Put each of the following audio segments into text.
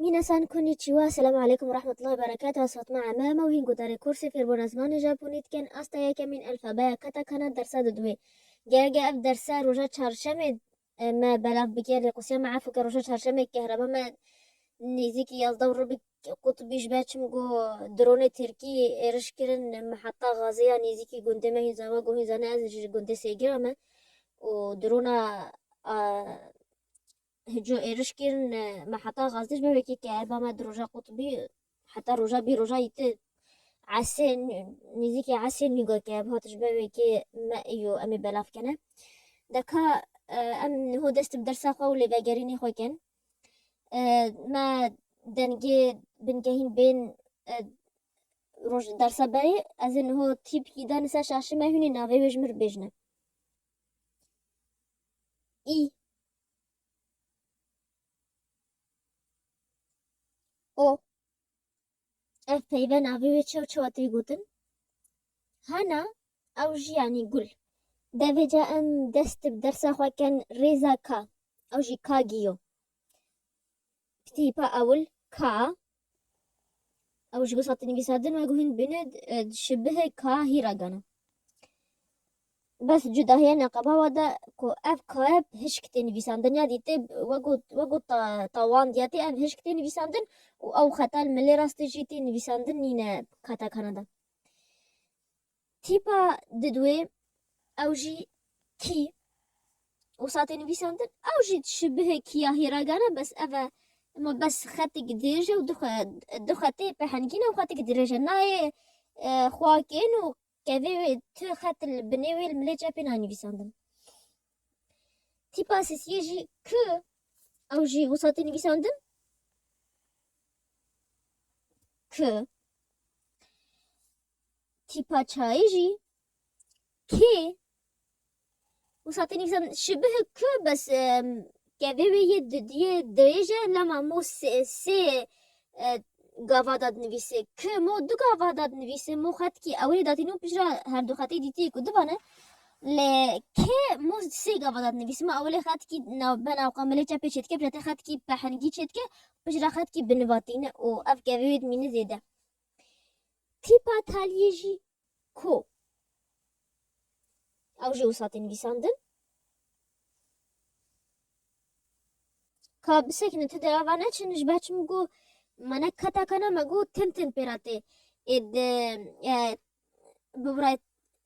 Minasan Konnichiwa, Selam Aleykum Rahmetullahi Berekatuh Ez Fatma Eme me û hîn guhdarê kûrsê fêrbûna zimanê Japonî dikin asta yekemîn elfabeya katakana dersa di duwê. Gerge ev dersa roja çarşemê me belav bike rêqûsiya me efû ke roja çarşemê kehreba me nêzîkî yazda û rubik qutbî ji ber çim ku dronê tirkî êriş kirin miheta gazê ya nêzîkî gundê me hîn zava ku hîn zane ez ji gundê Sêgirê me û drona Hico êriş kir ne me heta gazdîş bi wekî ke eba me di roja qutbî heta roja bî roja î ti esê nîzîkê esê nîgo ke eb hatiş be wekî me îyo em ê belav kene. Deka em niho dest bi dersa xwe û lêvegerînê xwe kin. Me dengê binkehîn bên roj dersa berê ez ê niho tîpkî dane ser şaşê me hûnê navê wê ji min re bêjine. इ O ev peyve navê wê çew çewa tê gotin hana ew jî yanî gul devê ca em dest bi dersa xwe ken rêza ka ew jî ka giyo Tîpa ewil, Ka. Ew ji bo sati nivîsandin ve guhîn dibîne, di şibihê ka hî re gana. Bes cudahiya neqeba wa de ku ev kaye bi hişkitê nivîsandinê ya dîtê, weko weko ta tawan diya tê, ev hişk tê nivîsandin û ew xeta li milê rastê jî tê nivîsandin nîne bi katakana de. Tîpa didwê ew jî kî û satê nivîsan din ew jî ji bihê kîya hîragan e bes ev e ma bes xetik dirêj e û du xetê pehengîn e û xetik dirêj e nayê xwa kên û kevê wê tu xet li binê wê li milê çepê nayê nivîsandin. Tîpa sisiyê jî kî ew jî û satê nivîsandin kî. tîpa çayê jî kê wisa tê nivîsan şibih ku bes kevê wê yê didiyê dirêj e lema mo sê gava da dinivîsê ku mo du gava da dinivîsê mo xetkî ewilê datîne û piştre her du xetê dîtiyê ku du van e lê kê mo sê gava da dinivîsê mo ewilê xetkî bena qamilê çepê çêdike piştre xetkî pehingî çêdike piştre xetkî binivatîne û ev kevê wê dimîne zêde. Tîpa talîyê jî ku ew jê wisa tê nivîsandin, ka bisekinin tu dê ava neçin ji ber çimû ku me ne ketaka ne me got tim tim pê re tê. Êdî bi birayê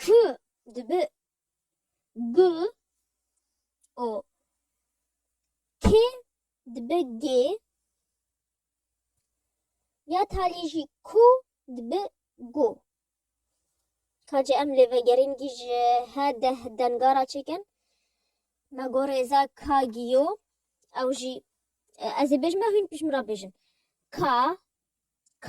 K dibi G û K dibi G ya talî jî K dibi G. Kacê em lê vegerîngî ji he deh denga re çêkin. Me got rêza K giyo ew jî ez ê bêjim ya hûn pişt min re bêjin. K, K.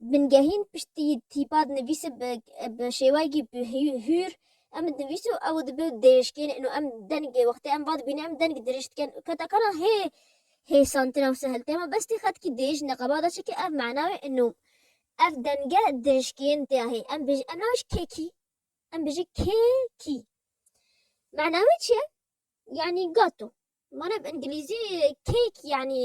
Bingehîn piştî tîpa dinivîse bi şêwayekî hûr em dinivîse û ew dibe dêrişkên û em deng wextê em va dibîne em deng dirêj dikin û keta kara hê hê santir ew sehil tê ma bestî xetkî dêj ne qebada çike ev mana wê û ev denge dirişkên tê ya hê em bêjin em nabêjin kêkî em bêjin kêkî mana wê çi ye yanî gato mana bi îngilîzî cake yanî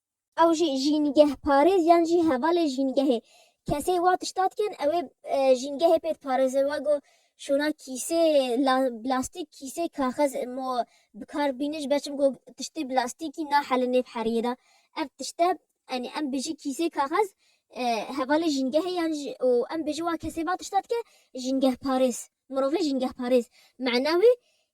Ew jî jîngehparêz yan jî hevalê jîngehê. Kesê wa tişta dikin ewê jîngehê pê diparêze wa go şona kîsê blastîk kîsê kaxez mo bikar bîne ji ber çim go tiştê blastîkî nahelin nêv heriyê de. Ev tişte enê em bijî kîsê kaxez hevalê jîngehê yan jî û em bijî wa kesê va tişta dike jîngehparêz. Mirovê jîngehparêz mena wê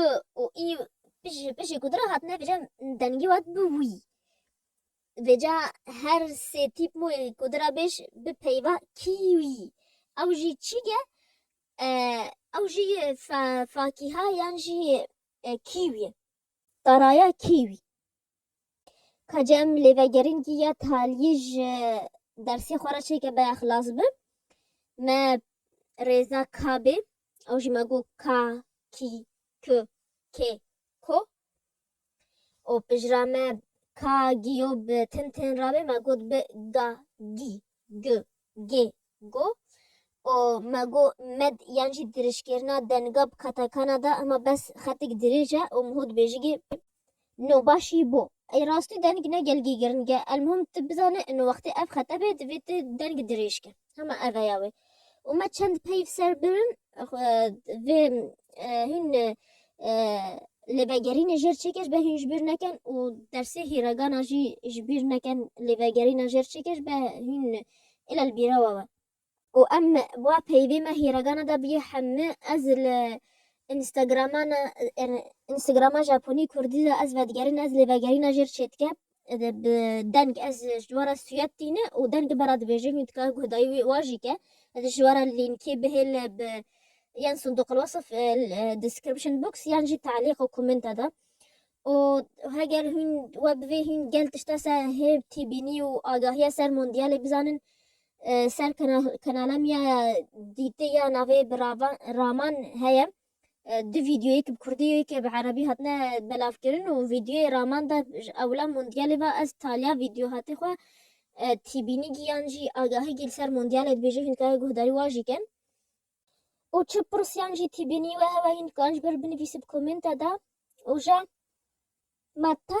û û î û pişê pişê ku dira hatine vêcan dengî wat bi wî. Vêca her sê tîp mûyê ku dira bêj bi peyva kî wî. Ew jî çî ge ew jî fa fakîha yan jî kî wî ye. Taraya kî wî Ka cem lê vegerînkî ya talîyê ji dersê xwe re çêke baya xilas bi. Me rêza ka bê, ew jî me got ka, kî, ku, kê, ko. Û pijra me ka, gî yo bi tin tên rabê me got bi, ga, gî. g, gê, go û me go, med yan jî dirêjkirina denga bi katakana de hema bes xetik dirêj e û miho dibêjigê p. No başî bo. Ey rastî deng ne gelgî giringe. Elmuhim tu bizane ino wextê ev xete bê divê tu deng dirêj ke. Hema ev e ya wê. Û me çend peyv ser birin vê hîn lêvegerînê jêr çêkir be hîn ji bîr nekin û dersê hîregana jî ji bîr nekin lêvegerîna jêr çêkir be hîn île li bîrewa we. Û em wa peyvê me hîregana da biyê heme ez li Instagramana Instagrama Japonî Kurdî de ez vedigerin ez lêvegerîna jêr çêdikim bi deng ez ji we re sûyet tîne û deng dibe re dibêje wî dikare guh dayî wî wa jî ke ez ji we re lînkê bihêle bi yên sindoqil wasf description box yan jî talîq û komenta de û heger hûn we bi vê hûn gel tişta ser hêv tîbînî û agahiya ser mondiyalê bizanin ser kanala me ya dîtê ya navê bi raman heye Du vîdyoyê yek bi kurdî û yekê bi erebî hatine belavkirin û vîdyoyê raman de ji ewla mondyalê ve ez taliya vîdyohatê xwe tîbînîgî yan jî agahîgî li ser mondyalê dibêjî hîn dikare guhdarî wan jî kin û çi pirsîyan jî tîbînî we hewa hîn dikare ji ber binivîsî bi komênte de û ja me te